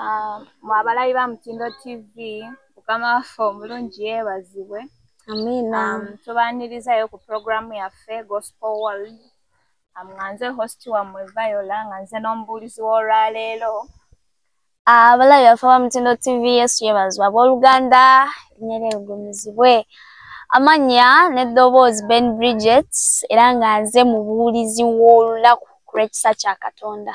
Ah, mu abalabi ba mutindo tv mukama waffe omulungi yeebazibwe amiina Um, tubaanirizayo ku pulogulaamu yaffe gospel world um, nga nze host wammwe viola nga nze n'omubuulizi w'olwaleero abalabi baffe ba mutindo tv yesu yebazibwe abooluganda erinnya ligumizibwe amannya n'eddoboozi ben bridget era nga nze mubuulizi w'olunaku ku lw'ekisa kya katonda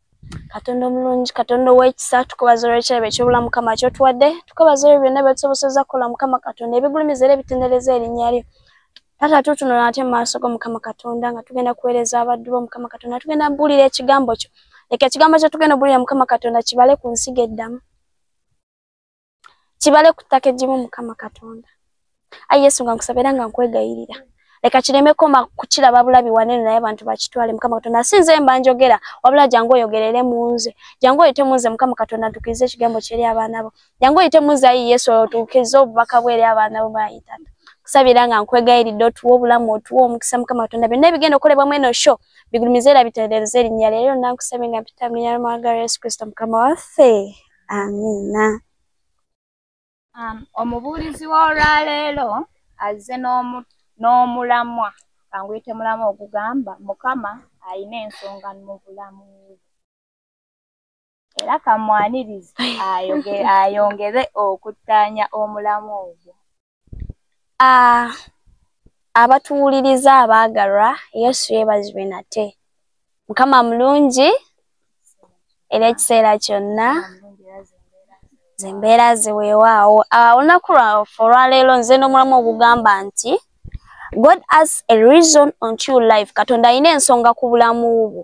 katonda omulungi katonda owekisa tukubaza olwekirabo ekyobulamu mukama kyotuwadde tukubaza olwe byonna byetusoboseza kukola mukama katonda ebigulumiza era ebitendereza erinnya lyo taata tutunula ate mumaaso go mukama katonda nga tugenda kuweereza abaddu bo mukama katonda tugenda buulira ekigambo kyo leka ekigambo kyo tugenda obuulira mukama katonda kibale ku nsiga eddamu kibale ku ttaka egimu mukama katonda ayi yesu nga nkusaba era nga nkwegayirira leka kireme koma kukiraba bulabi wanene naye abantu bakitwale mukama katonda si nze mba njogera wabula jangu oyogerere mu nze jangu oyite mu nze mukama katonda ntukirize ekigambo kyeri abaana bo jangu oyite mu nze ayi yesu otukirize obubaka bwe eri abaana bo bayitana kusabira nga nkwegayiridde otuwa obulamu otuwa omukisa mukama katonda byonna ebigenda okukolebwa mu eno sho bigulumize era bitendereze erinnya leero nankusabye nga mpita mu linnya lya mwagalwa yesu kristo mukama waffe amiina um, omubuulizi w'olwaleero azze n'omulamwa kanguyite mulamwa ogugamba mukama alina ensonga mu bulamu era kamwanirizi ayongere okuttaanya omulamwa ogwo Ah, abatuwuliriza abaagalwa yesu yeebazibwe nate mukama mulungi era ekiseera kyonna zembeera zeweewaawo ah, olunaku lwafe olwaleero nze n'omulamu ogugamba nti god as a reason on true life katonda alina ensonga ku bulamu bwo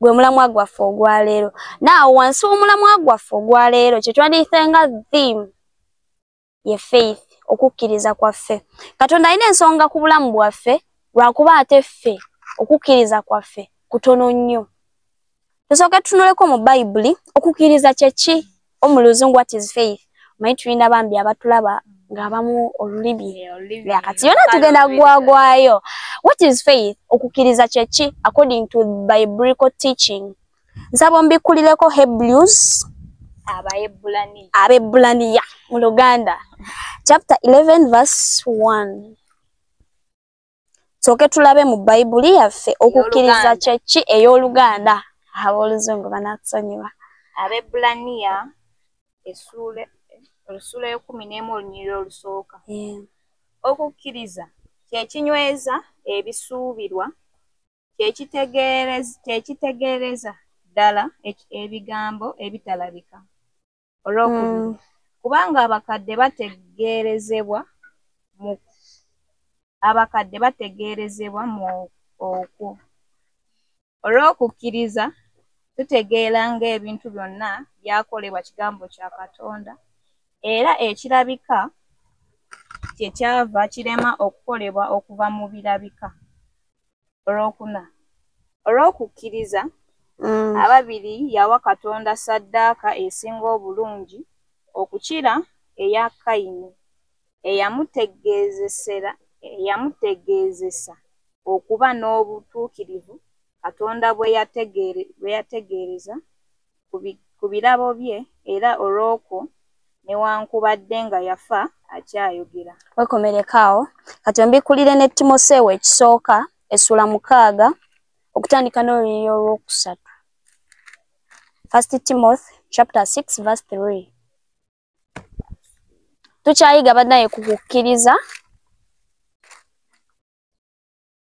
gwe mulamwa gwaffe ogwaleero naawo wansi w'omulamwa gwaffe ogwaleero kye twandiyise nga theme ye faith okukkiriza kwaffe katonda alina ensonga ku bulamu bwaffe lwakuba ate ffe okukkiriza kwaffe kutono nnyo tusooke tutunuleko mu bayibuli okukkiriza kyeki omu luzungu what is faith omanyi tulina bambi abatulaba ng'abamu olulimi eh, kati yona tugenda gwagwayo what is faith okukkiriza kyeki according to biblical teaching nsaba ombikkulireko hebrews abaebbulaniya mu luganda chapter 11 verse 1 soke tulabe mu bayibuli yaffe okukkiriza kyeki ey'oluganda ab'oluzungu banatusonyiwa abebbulaniya esuula olusuula yokumi n'emu olunyirira olusooka okukkiriza kyekinyweza ebisuubirwa kyekitegeereza ddala ebigambo ebitalabika olwokubiri mm. kubanga abakadde bategeerezebwa mu abakadde bategeerezebwa mu okwo olw'okukkiriza tutegeera ng'ebintu byonna byakolebwa kigambo kya katonda era ekirabika kye kyava kirema okukolebwa okuva mu birabika olwokuna olw'okukkiriza mm. ababiri yawa katonda saddaaka esinga obulungi okukira eya kayini eyamutegeezesa okuba n'obutuukirivu katonda bwe yategeereza ku birabo bye era olw'okwo newankubadde nga yafa akyayogera. Wekomereko awo kati ombikulire ne Timoseewo ekisooka essula mukaaga okutandika n'olunyiriri olw'okusatu. First Timothy chapter 6 verse 3. Tukyayiga banaye ku kukkiriza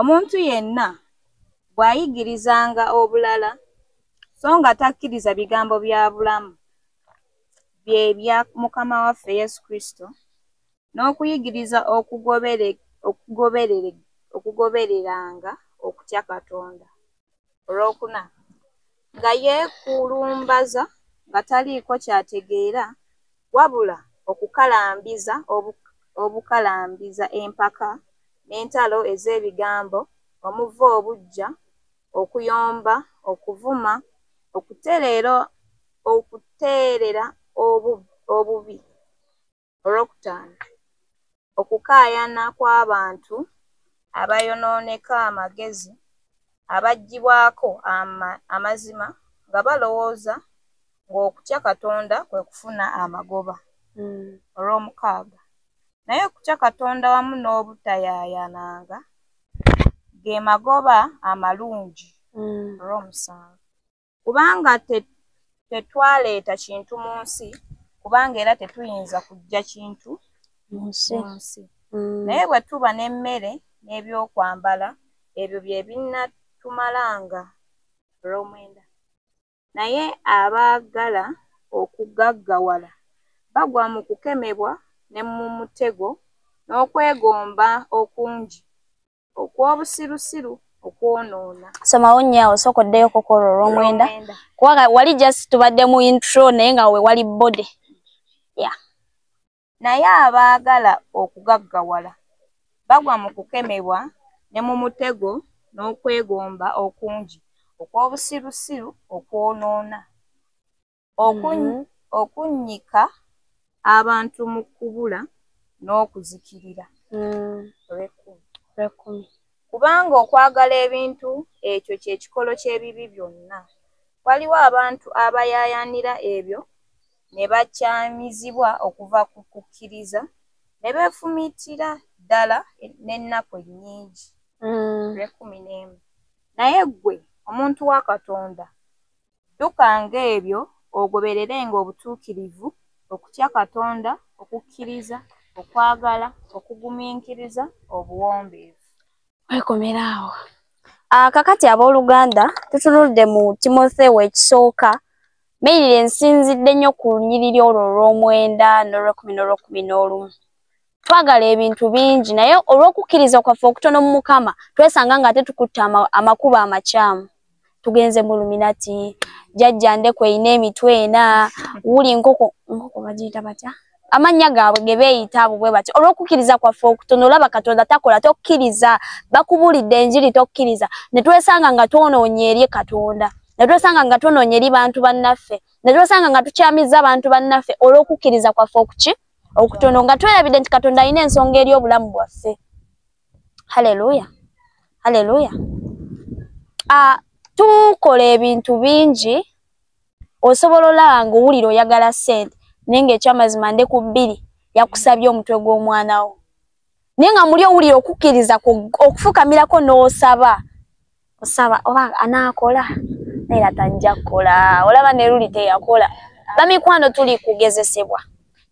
Omuntu yenna bw'ayigirizanga obulala so nga takkiriza bigambo bya bulamu bye bya Mukama waffe Yesu Kristo n'okuyigiriza okugobereranga okutya Katonda. olwokuna nga yeekulumbaza nga taliiko kyategeera wabula okukalambiza obukalambiza empaka n'entalo ez'ebigambo omuva obuggya, okuyomba, okuvuma, okutereera okuteerera obubi. Olwokutaano, okukaayana kw'abantu abayonooneka amagezi abaggyibwako amazima nga balowooza ng'okutya Katonda kwe kufuna amagoba. Hmm. Olwomukaaga, naye okutya Katonda wamu n'obutayaayananga ge magoba amalungi. Hmm. Olwomusanvu, kubanga tetwaleeta kintu mu nsi kubanga era tetuyinza kujja kintu mu nsi mm. naye bwe tuba n'emmere n'ebyokwambala ebyo bye binnatumalanga olw'omwenda naye abaagala okugaggawala bagwa mu kukemebwa ne mu mutego n'okwegomba okungi okw'obusirusiru okwonoona somawo nnyo awo sooka oddeyo kokola olw'omwenda kubanga wali just tubadde mu intro naye nga wewali body ya naye abaagala okugaggawala bagwa mu kukemebwa ne mu mutego n'okwegomba okungi okw'obusirusiru okwonoona mm-hmm. okunnyika abantu mu kubula n'okuzikirira mm. kubanga okwagala ebintu ekyo kye kikolo ky'ebibi byonna waliwo abantu abayaayaanira ebyo ne bakyamizibwa okuva ku kukkiriza ne beefumiitira ddala n'ennaku ennyingi mm. lwekumi n'emu naye ggwe omuntu wa katonda Ddukanga ebyo, ogobererenga obutuukirivu, okutya Katonda, okukkiriza, okwagala, okugumiikiriza, obuwombeefu. Weekomera awo. Ah, kakati ab'oluganda, tutunulidde mu Timotheo ekisooka, Mail ensinzidde nnyo ku lunyiriri olwo olw'omwenda n'olw'ekkumi n'olw'ekkumi n'olumu. twagala ebintu bingi naye olw'okukkiriza kwaffe okutono mu mukama twesanga nga ate tukutte amakubo amakyamu tugenze mu luminati jajja ndeku erina emitwe ena wuli nkoko nkoko bagiyita batya amannya gaabwe ge beeyita abo bwe batya olw'okukkiriza kwaffe okutono olaba katonda takola tokkiriza bakubuulidde enjiri tokkiriza ne twesanga nga twonoonye eri katonda netwesanga nga twonoonye eri bantu bannaffe netwesanga nga tukyamizza abantu bannaffe olw'okukkiriza kwaffe okuki okutono nga twerabidde nti katonda alina ensonga eri obulamu bwaffe haleluya haleluya ah, tukola ebintu bingi osobola olaba nga owulira oyagala sente naye nga ekyamazima nde ku bbiri yakusabye omutwe gw'omwana wo naye nga muli owulira okukkiriza okufukamirako n'osaba osaba oba anaakola naye era tanija kukola olaba ne luli teyakola bamikwano tuli kugezesebwa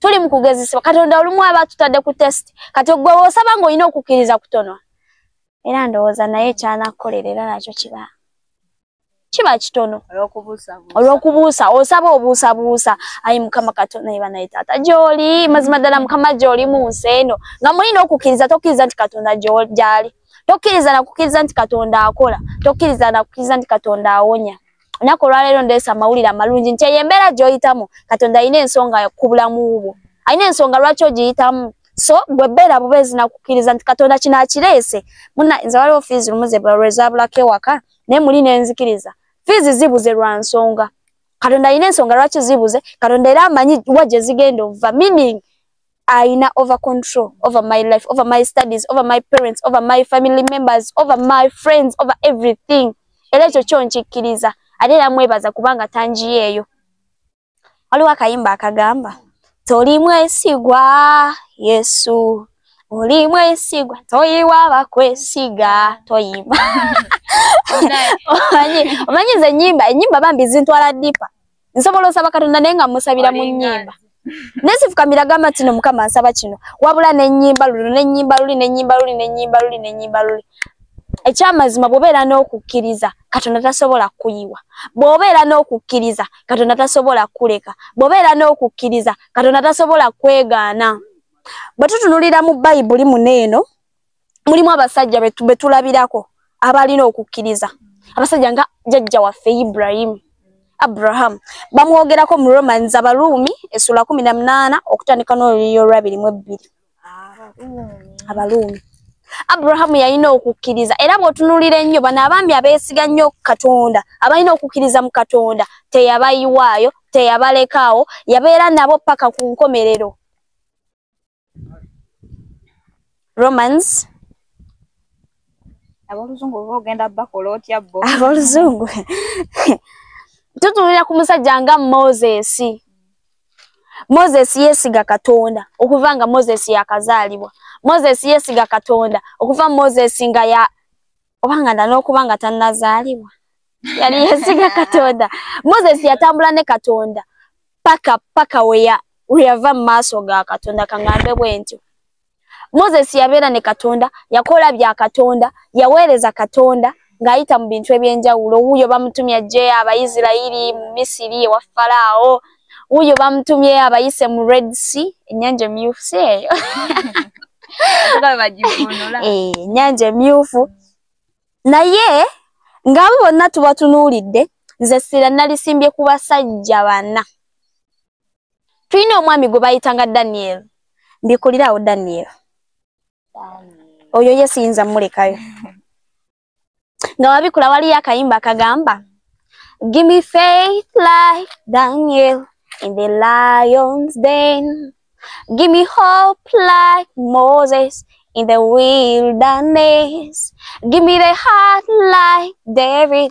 tuli mu kugezesebwa katonda olumu aba atutadde ku test kati ogwe osaba ng'olina okukkiriza kutono era ndowooza naye kyanakukolera era nakyo kiba kiba kitono olw'okubuusa osaba obuusabuusa ayi mukama katonda ye banaye taata gyoli mazima ddala mukama gyoli mu nsi eno nga mulina okukkiriza tokkiriza nti katonda gyali tokkiriza nakukiriza nti katonda akola tokkiriza nakukiriza nti katonda awonya olunaku olwaleero ndeesa amawulire amalungi nti eyo embeera gyoyitamu katonda alina ensonga ku bulamu bwo alina ensonga lwaki ogiyitamu so gwe beera bubeezi nakukiriza nti katonda kino akireese muna nze waliwo fiizi lumu zebalwezabulako ewaka naye muli nenzikiriza fiizi zibuze lwa nsonga katonda alina ensonga lwaki zibuze katonda era amanyi wa gye zigenda obuva meaning ayina over control over my life over my studies over my parents over my family members over my friends over everything era ekyo kyo nkikkiriza ate era mwebaza kubanga tanjiyeeyo waliwo akayimba akagamba toli mwesigwa yesu oli mwesigwa toyiwa bakwesiga toyimba omanyi omanyi ze nyimba enyimba bambi zintwala dipa nsobola osaba katonda naye nga musabira mu nyimba nesifukamira gamba tino mukama nsaba kino wabula nenyimba lulu nenyimba luli nenyimba luli nenyimba luli nenyimba luli ekyamazima bwobeera n'okukkiriza katonda tasobola kuyiwa bwobeera n'okukkiriza katonda tasobola kuleka bwobeera n'okukkiriza katonda tasobola kwegaana bwe tutunulira mu bayibuli muno eno mulimu abasajja betulabirako abalina okukkiriza abasajja nga jajja waffe ibrahimu abraham bamwogerako mu romans abaruumi esula kumi na munaana okutandika n'oluyiyo olwabiri mu ebbiri abaruumi abrahamu yalina okukkiriza era bw'otunuulira ennyo bano abaami abeesiga nnyo katonda abalina okukkiriza mu katonda teyabayiwaayo teyabalekaawo yabeera nabo paka ku nkomerero romans aboluzungu oba ogenda bakola otya bo aboluzungu tutunulira ku musajja nga moses moses yesiga katonda okuva nga moses yakazaalibwa moses yesiga katonda okuva moses nga ya oba nga nda n'okuba nga tannazaalibwa yali yesiga katonda moses yatambula ne katonda paka paka weya weyava mu maaso ga katonda kangambe bwe ntyo moses yabeera ne katonda yakola bya katonda yaweereza katonda ng'ayita mu bintu eby'enjawulo wuuyo bamutumya jje abaisirairi mu misiri ewa falaawo wuyo bamutumye abayise mu red sea enyanja emyufu si eyo enyanja eh, emyufu naye ngaabo bonna tubatunuulidde nze sira nalisimbye ku basajja bana tulina omwami gwe bayitanga daniel mbikuliraawo daniel oyo ye siyinza mulekayo nga wabikula waliyo akayimba kagamba give me faith like daniel in the lions den give me hope like moses in the wilderness give me the heart like david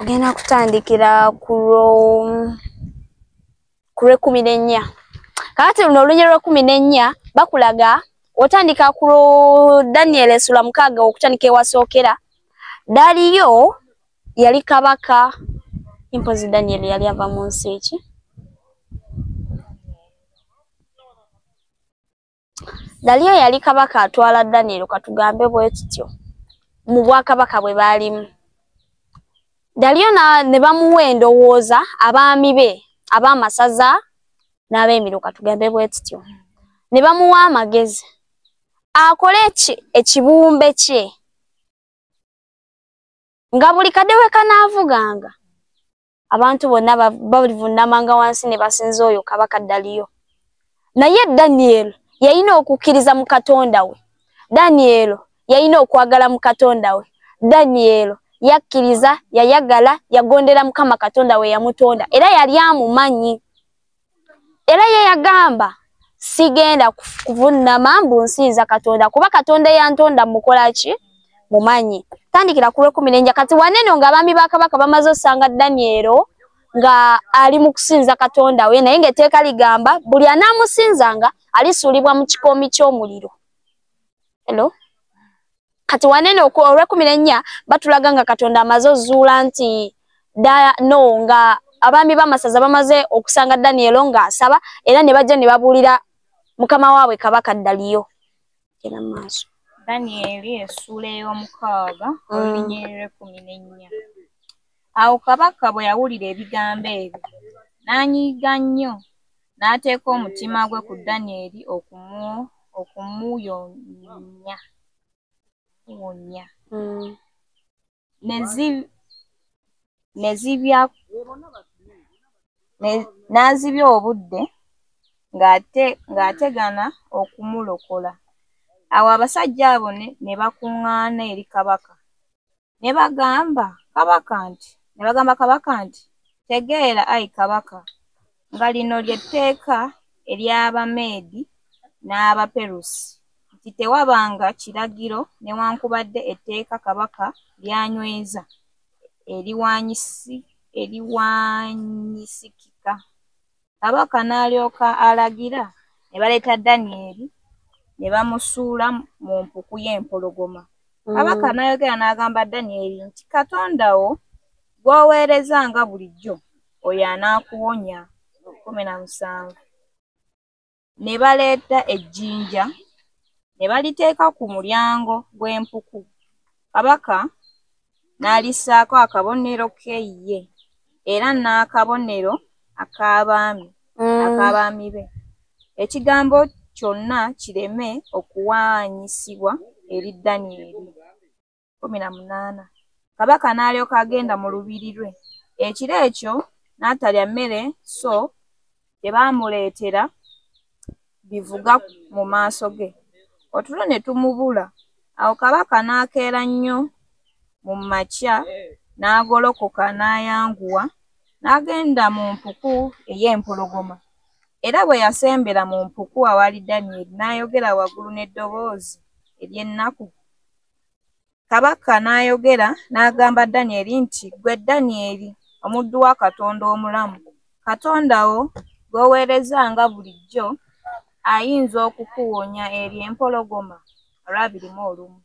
ogenda kutandikira ku lwekumi n'ennya kakati luno olunye lwekumi n'ennya bakulaga otandika ku daniel esula mukaaga okutandika ewasookera daliyo yali kabaka impozi daniel yali ava mu nsi eki daliyo yali kabaka atwala daniel katugambe bwekityo mu bwakabaka bwe baalimu daliyo ne bamuwa endowooza abaami be abaamasaza n'abeemiro katugambe bwekityo ne bamuwa amagezi akole ekibumbe kye nga buli kadde we kanaavuganga abantu bonna balivunnamanga wansi ne basinza oyo kabaka daliyo naye daniel yalina okukkiriza mu katonda we daniel yalina okwagala mu katonda we daniel yakkiriza yayagala yagondera mukama katonda we yamutonda era yali amumanyi era ye yagamba sigenda kuvunnama mbu nsinza katonda kuba katonda eyantonda mukola ki mumanyi tandikira ku lwekumi nenja kati waneno nga abaami ba kabaka bamaze osanga danielo nga ali mu kusinza katonda we naye ngaeteeka ligamba buli anaamusinzanga alisuulibwa mu kikoomi ky'omuliro hello kati wanene olwekumi nennya batulaga nga katonda amaze ozuula nti daya no nga abaami bamasaza bamaze okusanga danielo nga asaba era ne bajja ne babuulira mukama waabwe kabaka ddaliyo era mu maaso danieli esuula ey'omukaaga mm. olunyirira ekumi nennya Awo kabaka bwe yawulira ebigambo ebyo, n'anyiiga nnyo, n'ateeka omutima gwe ku Danyeri okumuwonya. Mm. N'azibya obudde ng'ategana okumulokola. Awo abasajja abo ne bakuŋŋaana eri kabaka Ne bagamba kabaka nti ne bagamba kabaka nti tegeera ayi kabaka nga lino lye tteeka ery'Abameedi n'Abaperusi nti tewabanga kiragiro newankubadde etteeka kabaka lyanyweza eriwanyisikika. Kabaka n'alyoka alagira ne baleeta Danyeri ne bamusuula mu mpuku y'empologoma. Mm. Kabaka n'ayogera n'agamba Danyeri nti, Katonda wo gw'oweereza nga bulijjo, oyo anaakuwonya. kumi na musanvu. ne baleeta ejjinja ne baliteeka ku mulyango gw'empuku kabaka n'alissaako akabonero ke ye era n'akabonero ak'abaami mm. ak'abaami be ekigambo kyonna kireme okuwaanyisibwa eri danyeri kkumi na munaana kabaka n'alyoka agenda mu lubiri lwe ekiro ekyo n'atalya mmere so tebaamuleetera bivuga mu maaso ge otulo ne tumubula awo kabaka n'akeera nnyo mu makya n'agolokoka n'ayanguwa n'agenda mu mpuku ey'empologoma era bwe yasembera mu mpuku awaali danyeri n'ayogera waggulu n'eddoboozi ery'ennaku Kabaka n'ayogera n'agamba Danyeri nti, Ggwe Danyeri, omuddu wa Katonda omulamu, Katonda wo gw'oweereza nga bulijjo ayinza okukuwonya eri empologoma olwabiri mu olumu.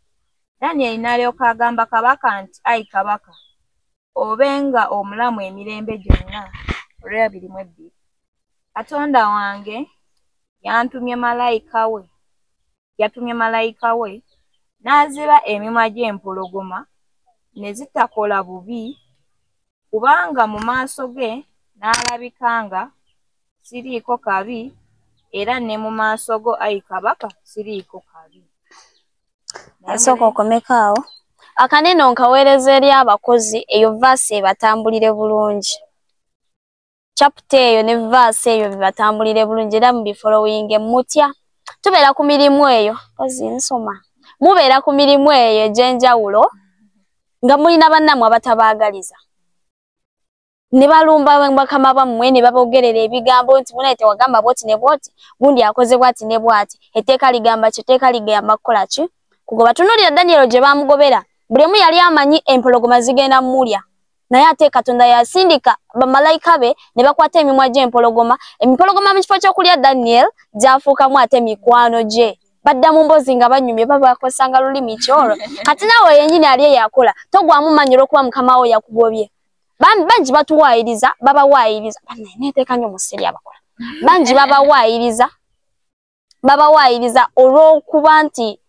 Danyeri n'alyoka agamba kabaka nti, Ayi kabaka, obe nga omulamu emirembe gyonna olwabiri mu ebbiri. Katonda wange yantumye malayika we yatumye malayika we n'aziba emimwa gy'empologoma ne zitakola bubi kubanga mu maaso ge n'alabika nga siriiko kabi era ne mu maaso go ayi kabaka siriiko kabi asooka okomeka awo akanene onkaweereza eri abakozi eyo vaasi ebatambulire bulungi chapter eyo ne verse eyo bibatambulire bulungi era mubifolowinge mutya tubeera ku mirimu eyo ozi nsoma mubeera ku mirimu eyo egy'enjawulo nga mulina bannammwe abatabaagaliza ne balumba bakama bammwe ne babogerera ebigambo nti munaye tewagamba bwoti ne bwoti gundi akoze bwati ne bwati etteeka ligamba ki etteeka ligamba kukola ki kugoba tunuulira danyero gye baamugobera buli omu yali amanyi empologoma zigenda mulya naye ate katonda yasindika bamalayika be ne bakwata emimwa gy'empologoma empologoma mu kifo ky'okulya daniel gyafuukamu ate mikwano gye badda mu mbozi nga banyumye babakosanga lulimi kyoro kati nawe yenyini ali eyakola togwamu manyi olwokuba mukama wo yakugobye bambi bangi batuwaayiriza babawaayiriza banaye neteeka nyo mu siri abakola bangi babawaayiriza babawaayiriza olw'okuba nti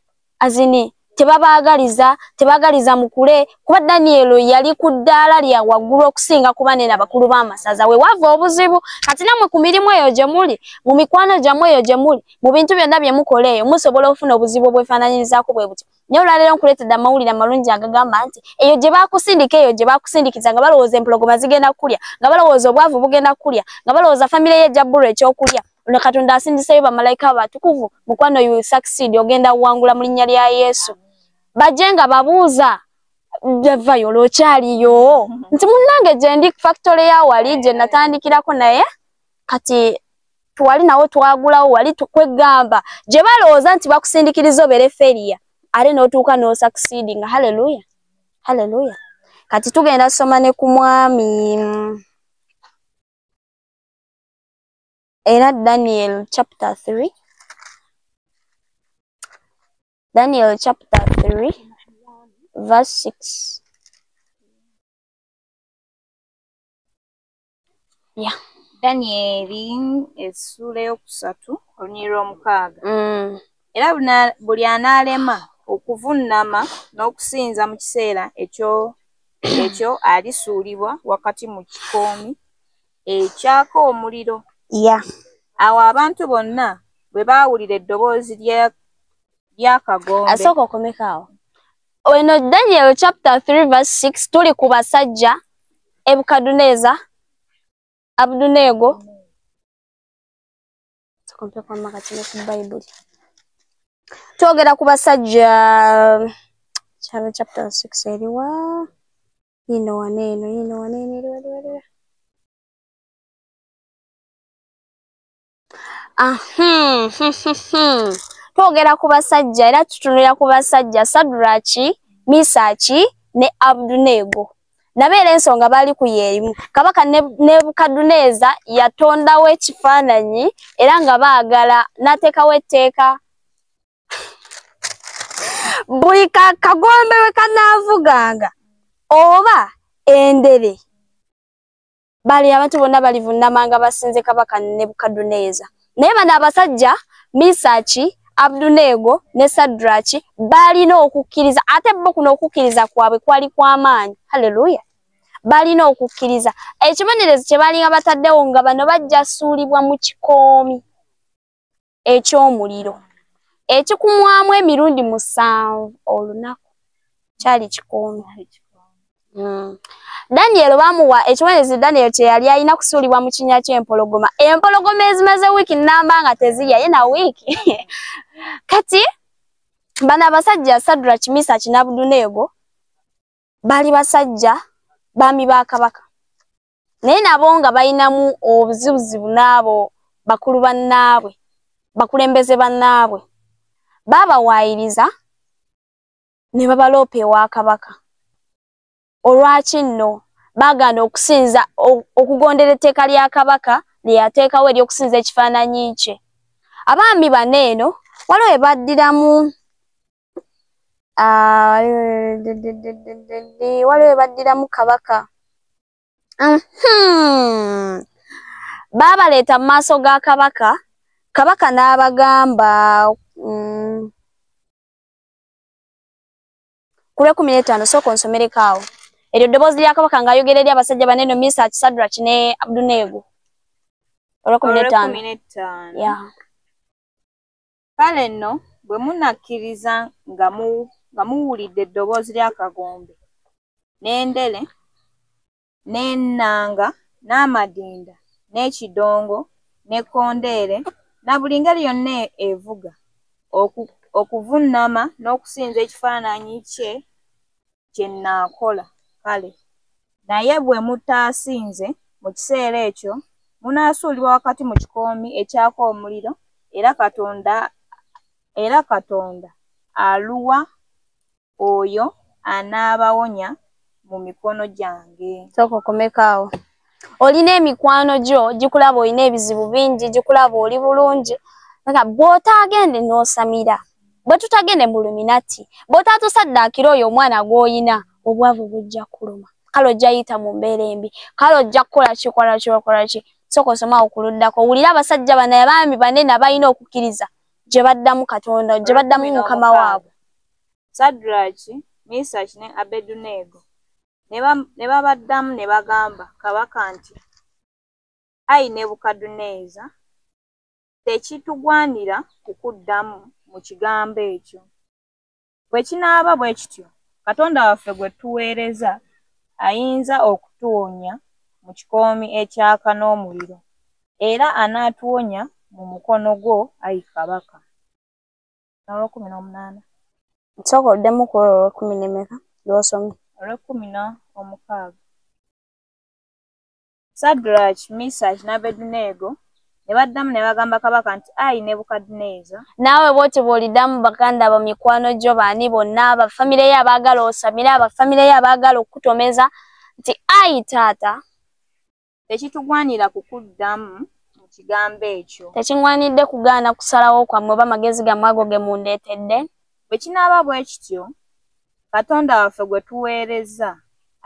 azini tebabaagaliza tebaagaliza mukule kuba daniyelo yali ku ddaala lya waggulu okusinga kuba nena bakulu b'amasaza we wava obuzibu kati namwe ku mirimu eyo gye muli mu mikwano gyammwe eyo gye muli mu bintu byonna bye mukola eyo musobola okufuna obuzibu obwefaananyirizaako bwe butyo naye olwaleero nkuleetedde amawulire amalungi agagamba nti eyo gye baakusindika eyo gye baakusindikiza nga balowooza empologoma zigenda kukulya nga balowooza obwavu bugenda kukulya nga balowooza famire ye ejja bbulwa ekyokulya ono katonda asindiseyo bamalayika abatukuvu mukwano you succeed ogenda kuwangula mu linnya lya yesu bajje nga babuuza javayo olwokyaliyo nti munnange gyendi factory ya wali gye natandikirako naye kati twali nawo twagulawo wali tukwegamba gye balowooza nti bakusindikiriza obere feriya ate n'otuuka n'osakusiidi nga haleluya haleluya kati tugenda soma ne ku mwami era daniel chapter 3 daniel chapter 3 verse 6 yeah. danyeri essuula eyokusatu olunyiri lwomukaaga mm. era buli anaalema okuvunnama n'okusinza mu kiseera ekyo ekyo alisuulibwa wakati mu kikoomi ekyaka omuliro ya awo abantu bonna bwe baawulira eddoboozi ly'akagombe asooka okomekaawo Weno Daniel chapter 3 verse 6 tuli ku basajja Ebukaduneza Abdunego Tukompe kwa maka chine ku Bible Tuogera ku basajja Charo chapter 6 eriwa Yino waneno yino waneno eriwa eriwa eriwa Ah, hmm, hmm, hmm, twogera ku basajja era tutunulira ku basajja saduraki misaki ne abdunego nabeera ensonga baali ku yeerimu kabaka nebukaduneeza yatondawo ekifaananyi era nga baagala n'ateekawo etteeka buli kagombe we kanaavuganga oba endere bali abantu bonna balivunnama nga basinze kabaka nebukaduneeza naye bano abasajja misaki abduneego ne sadraki balina okukkiriza ate bo kuno okukkiriza kwabwe kwali kwamaanyi halleluya balina okukkiriza ekibonerezo kye balinga bataddewo nga bano bajja suulibwa mu kikoomi eky'omuliro ekikumwamu emirundi musanvu olunaku kyali kikoono hmm. daniel bamuwa ekibonerezo daniel kyeyali alina kusuulibwa mu kinya ky'empologoma empologoma ezimaze wiiki namba nga tezirya ye na wiiki kati bano abasajja sadra kimisa kinabuduneego bali basajja baami ba kabaka naye nabo nga balinamu obuzibuzibu n'abo bakulu bannaabwe bakulembeze bannaabwe baabawaayiriza ne babaloopa ewa kabaka olwaki nno baagaana okusinza okugondera etteeka lya kabaka lye yateekawo ery'okusinza ekifaananyi kye abaami bano eno waliwo ebaddiramu Ah, waliwo waliwo baddiramu kabaka Mhm. baabaleeta mu maaso ga kabaka kabaka n'abagamba mm, ku lwekumi n'etaano sooka onsomereko awo eryo ddoboozi lya kabaka ng'ayogera eri abasajja bane no misa kisadraki ne abduneego olwekumi n'etaano Olw'ekkumi n'ettaano. Yeah. Kale nno bwe munakkiriza nga mu nga muwulidde eddoboozi ly'akagombe n'endere n'ennanga n'amadinda n'ekidongo n'ekkondeere na buli ngeri yonna e-, evuga oku, okuvunnama n'okusinza ekifaananyi kye kye nnaakola. Kale. Naye bwe mutaasinze, mu kiseera ekyo, munaasuulibwa wakati mu kikoomi ekyaka omuliro, era Katonda, era Katonda aluwa oyo anaabawonya mu mikono gyange. Sooka okomeko awo. olina emikwano gyo gikulaba olina ebizibu bingi gikulaba oli bulungi nga bw'otaagende n'osamira bwe tutagende mu luminati bw'otatusaddaakira oyo omwana gw'olina obwavu bujja kuluma kale ojja yita mu mbeera embi kale ojja kukola kikola kyokola ki soka osomawo ku luddako wulira abasajja bana abaami banene abalina okukkiriza gye baddamu katonda gye baddamu mukama waabwe sadraki misaki ne abeduneego Ne babaddamu ne bagamba kabaka nti, Ayi Nebukadduneeza, tekitugwanira kukuddamu mu kigambo ekyo. Bwe kinaaba bwe kityo, Katonda waffe gwe tuweereza ayinza okutuwonya mu kikoomi ekyaka n'omuliro, era anaatuwonya mu mukono gwo, ayi kabaka. olw'ekkumi n'omunaana nsooka oddemu ku olwo olw'ekkumi n'emeka lw'osomye olw'ekkumi n'omukaaga sadraki misaki n'abeduneego ne baddamu ne bagamba kabaka nti ayi nebukadineeza naawe bwotyo bw'oliddamu baganda bo mikwano gyo baani bonna abafamire yo abaagala osamire abafamire yo abaagala okukutomeza nti ayi taata tekitugwanira kukuddamu mu kigambo ekyo tekingwanidde kugaana kusalawo kwammwe oba magezi gammwe ago ge mundeetedde bwe kinaaba bwe kityo katonda waffe gwe tuweereza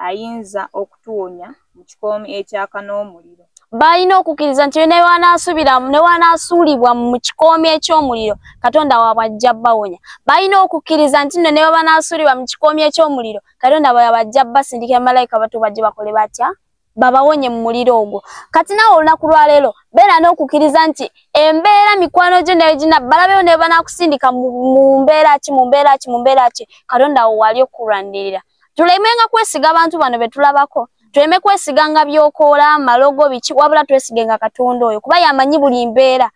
ayinza okutuwonya mu kikoomi ekyaka n'omuliro baalina okukkiriza nti ne wanaasubira ne wanaasuulibwa mu kikoomi eky'omuliro katonda waabwe ajja bawonya baalina okukkiriza nti nno ne bwe banaasuulibwa mu kikoomi eky'omuliro katonda bwe yabajja basindika emalayika batu bajje bakole batya babawonye mu muliro ogwo kati nawe olunaku lwaleero beera n'okukiriza nti embeera mikwano gyo negina balabeyo ne banakusindika mu mbeera ki mu mbeera ki mu mbeera ki katonda wo wali okukulwanirira tulemenga kwesiga abantu bano be tulabako tuleme kwesiganga byokoola malogo biki wabula twesigenga katonda oyo kuba yamanyi buli mbeera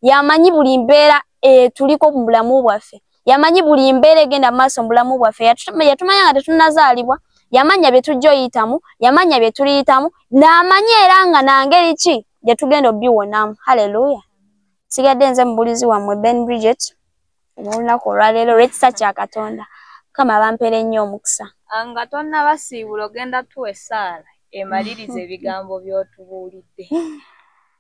yamanyi buli mbeera etuliko eh, mu bulamu bwaffe yamanyi buli mbeera egenda maaso mu bulamu bwaffe yatumanya nga tetunazaalibwa yamanya bye tujja oyitamu yamanya bye tuliyitamu n'amanyi era nga nangeri ki gye tugenda obiwonamu halleluya sigadde nze mubulizi wammwe ben bridget olunaku olwaleero olw'ekisa kya katonda mukama bampera ennyo omukisa ah, nga tonnabasiibula ogenda tuwa essaala emaliriza ebigambo by'otubuulidde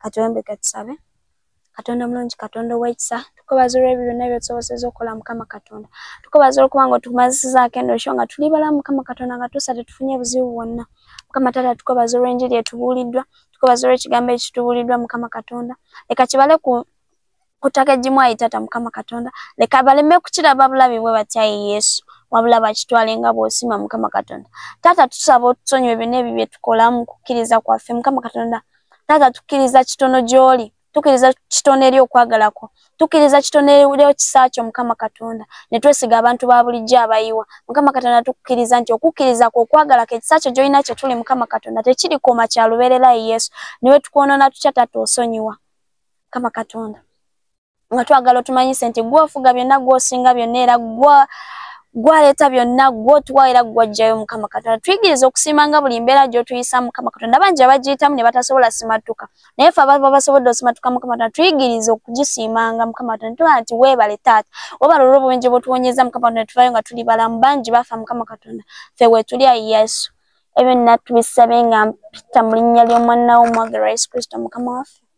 katuwembe katusabe katonda omulungi katonda owekisa tukubaza olwebyo byonna byotusoboseza okukola mukama katonda tukubaza olwokuba nga otukumazisizaako eno esho nga tuli bala mukama katonda nga tusa tetufunye buzibu bwonna mukama taata tukubaza olwenjiri etubuuliddwa tukubaza olwekigambo ekitubuuliddwa mukama katonda leka kibale ku kutaka egimu ayi tata mukama katonda leka baleme kukiraba bulabi bwe batyayi yesu wabula bakitwale nga bwosima mukama katonda tata tusaba otusonyiwe byona ebyo byetukola mu kukkiriza kwaffe mukama katonda tata tukkiriza kitono gyoli tukkiriza kitono eri okwagalako tukkiriza kitono eri ekisa kyo mukama katonda ne twesiga abantu ba bulijjo abayiwa mukama katonda tukkiriza nti okukkiriza kwo okwagalako ekisa kyo gyolina kye tuli mukama katonda tekirikoma kya lubeererayi yesu niwe tukwonona tutya tata osonyiwa kama katonda nga twagala otumanyise nti gwofuga byonna gwosinga byonna era gwa gwaleeta byonna gwotuwa era gwajjayo mukama katonda tuyigiriza okusiima nga buli mbeera gyotuyisa mukama katonda bangi abagiyitamu ne batasobola simattuka naye fe ababa basobodde osimattuka mukama katonda tuyigiriza okugisiimanga mukama katonda tuba nti weebale taata webala olwo obubenje bwotuwonyeza mukama katonda tuvayo nga tuli balamu bangi bafa mukama katonda fe wetuli ayi yesu ebyo nnatubisabe nga mpita mu linnya ly'omwana wo omwagalwa yesu kristo mukama waffe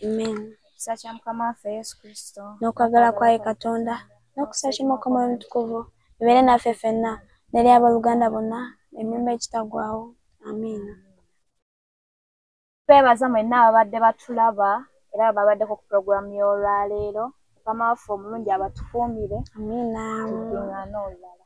Amen. Ekisa kya Mukama waffe Yesu Kristo n'okwagala kwaye Katonda n'okusaki Mukama omutukuvu bibeere naffe ffenna neri abooluganda bonna emirembe ekitagwawo. Amiina. Twebaza mwenna ababadde batulaba era ababaddeko ku pulogulaamu y'olwaleero. Mukama waffe omulungi abatukuumire. Amiina. Tudding'ane olulala.